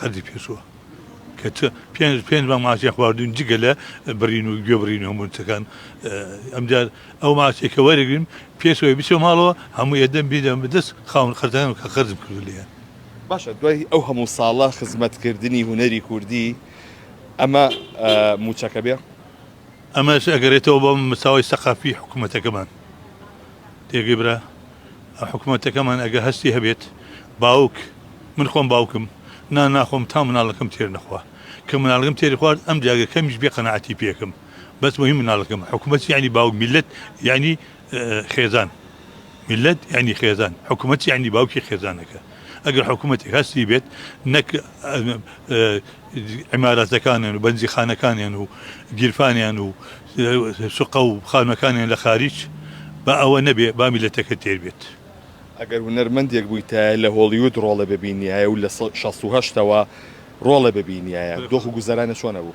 قەدری پێچووە کە چ پێنج پێنج مانگ ماچیان خواردوین جگە لە بڕین و گوێ بڕین و هەموو شتەکان اه، ئەمجار ئەو ماچێک کە وەرەگریم پێشەوەی بچێ ماڵەوە هەموو ئێدەم بیدەم بدەست خاون قەرزەکان کە قەرزم کردو لێیان باشە دوای ئەو هەموو ساڵە خزمەتکردنی هونەری کوردی ئەمە اه، مووچەکە بێ؟ ئەمەش ئەگەرێتەوە بە مستاوای سەقافی حکومەتەکەمان. تێگەی برا؟ حکومەتەکەمان ئەگە هەستی هەبێت باوک، من خۆم باوکم، نان ناخۆم تا مناڵەکەم تێر نەخوا. کە مناڵەکەم تێری خوارد ئەمجا ئەگە کەمیش بێ قەناعەتی پێکەم. بەس مەهیم مناڵەکەمە. حکومەت یانی باوک، میللەت یانی. خێزان، میللەت یانی خێزان، حکومەت یانی باوکی خێزانەکە. ئەگەر حکومەتێک هەستی بێت نەک عیمارەتەکانیان و بەنزیخانەکانیان و گیرفانیان و سوقە و خانوەکانیان لە خاریج با ئەوە نەبێ با میللەتەکە تێر بێت. ئەگەر هونەرمەندێک بوویتایە لە هۆڵیود ڕۆڵێ ببینیایە و لە شەست و هەشتەوە ڕۆڵێ ببینیایە دۆخ و گوزەرانێ چۆن ئەبوو؟